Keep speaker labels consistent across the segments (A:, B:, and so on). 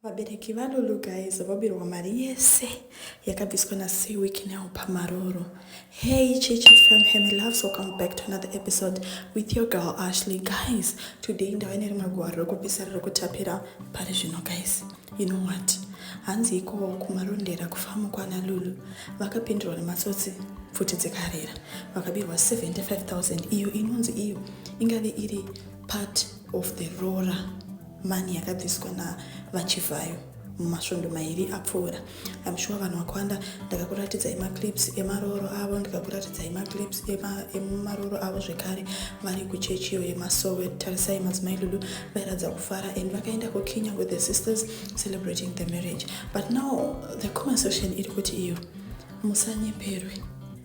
A: Vabereki vaLulu guys vobirwa mari yese yakabviswa naSee week now pamaroro. Hey Chichi fam Hemi loves welcome back to another episode with your girl Ashley guys. Today ndava nerimwe gwaro rekupesera rekutapira pari zvino guys. You know what? Hanzi iko kumarondera kufamu kwana Lulu vakapindurwa nematsotsi pfuti dzikarira vakabirwa 75000 iyo inonzi iyo ingave iri part of the roora money yakabviswa navachivhayo mumasvondo mairi apfuura im sure vanhu vakwanda ndakakuratidzai maclips emaroro avo ndikakuratidzai maclips emaroro avo zvekare vari kuchechi iyo yemasowe tarisai madzimai lulu vairatidza kufara and vakaenda kukinya with the sisters celebrating the marriage but now the common section iri kuti iyo musanyeperwe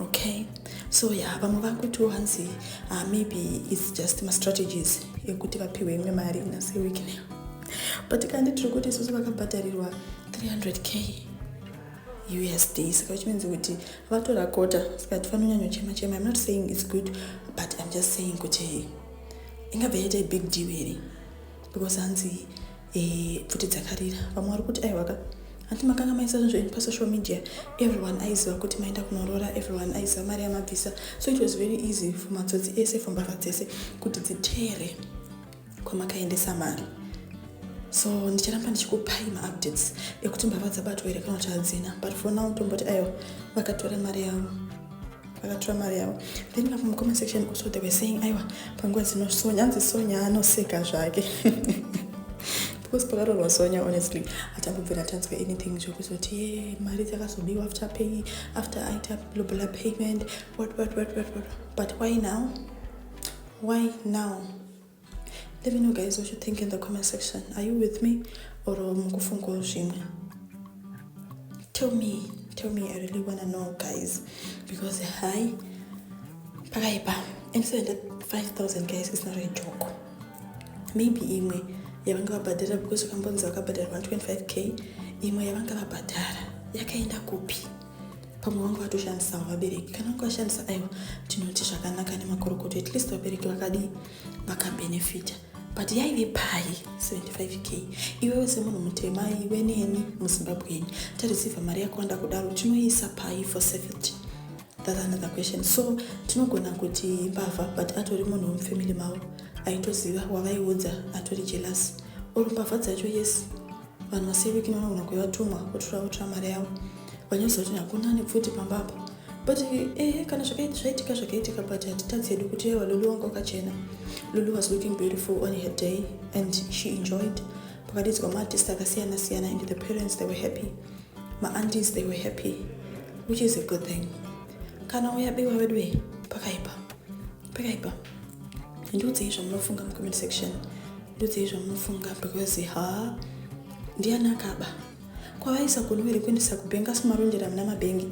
A: okay so ya vamwe vakuti wanzi uh, ah, maybe its just mastrategies ekuti vapiwe imwe mari inase weeknel but kandi tiri kuti isusu vakabhadharirwa 300k usd saka which means kuti vatora kota saka tifanonyanyochema chema im not saying its good but im just saying kuti ingabva yaita big deal here because hanzi Eh, pfuti dzakarira vamwe vari kuti aiwaka hanti makanga maisa zvinhu zvenyu pasocial media everyone aiziva kuti maenda kunoroora everyone aiziva mari yamabvisa so it was very easy for matsotsi ese for mbavha dzese kuti dzitere kwamakaendesa mari so ndicharamba ndichikupai maupdates ekuti mbavha dzabatwa here kana kuti hadzina but for now tomboti aiwa vakatora mari yavo vakatora mari yavo then ipapo mucomment section also they were saying aiwa panguva dzino sonya anzi sonya anoseka zvake because pakatorwa sonya honestly hatambobvira tanzwa anything zvekuzoti ye mari dzakazobiwa after pay after aita blobla payment what what what what what but why now why now Let me know guys what you think in the comment section. Are you with me or mukufungawo zvimwe? Tell me, tell me, I really wanna know guys because hi pakaipa and 5000 guys is not a joke. Maybe imwe yavanga vabhadhara because vakambonzi vakabhadhara 125k imwe yavanga vabhadhara yakaenda kupi? pamwe vanga vatoshandisawo vabereki kana vanga vashandisa aiwa tinoti zvakanaka nemakorokoto at least vabereki vakadii vakabenefita but yaive pai 75 k iwewe semunhu mutema iwe neni muzimbabweni tareceiva mari yakawanda kudaro tinoiisa pai for safety that's another question so tinogona kuti mbavha but atori munhu wemufamily mavo aitoziva wavaiudza atori jealous or mbavha dzacho yes vanhu vasiviki vanogona kuve vatumwa votora votora mari yavo vanyoza kuti hakuna ane pfuti pamba apa but ehe kana zvaitika zvakaitika but hatitadzi hedu kuti yewa lulu wanga wakachena lulu was looking beautiful on her day and she enjoyed pakadidzwa maartist akasiyana siyana and the parents they were happy maantis they were happy which is a good thing kana uyabiwa veduwe pakaipa pakaipa ndiudzei zvamunofunga mucomment section ndiudzei zvamunofunga because ha ndiani akaba kwavaisa kunuwe rekuendesa kubhengi asi marondera muna mabhengi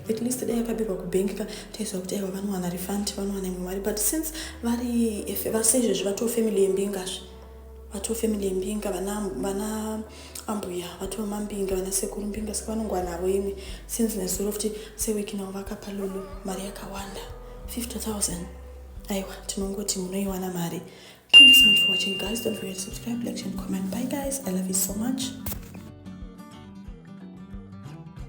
A: at least dai akabirwa kubhengi ka taiziva kuti aiwa vanowana refund vanowana imwe mari but since vari vase izvezvi vatoo family yembingazve vatoo family yembinga vana ambuya vatoo mambinga vana sekuru mbinga saka vanongowa navo imwe since nezuro futi sewiki navo vakapa lulu mari yakawanda 50000 aiwa tinongoti munoiwana mari thank you so much for watching guys don't forget to subscribe like and comment bye guys i love you so much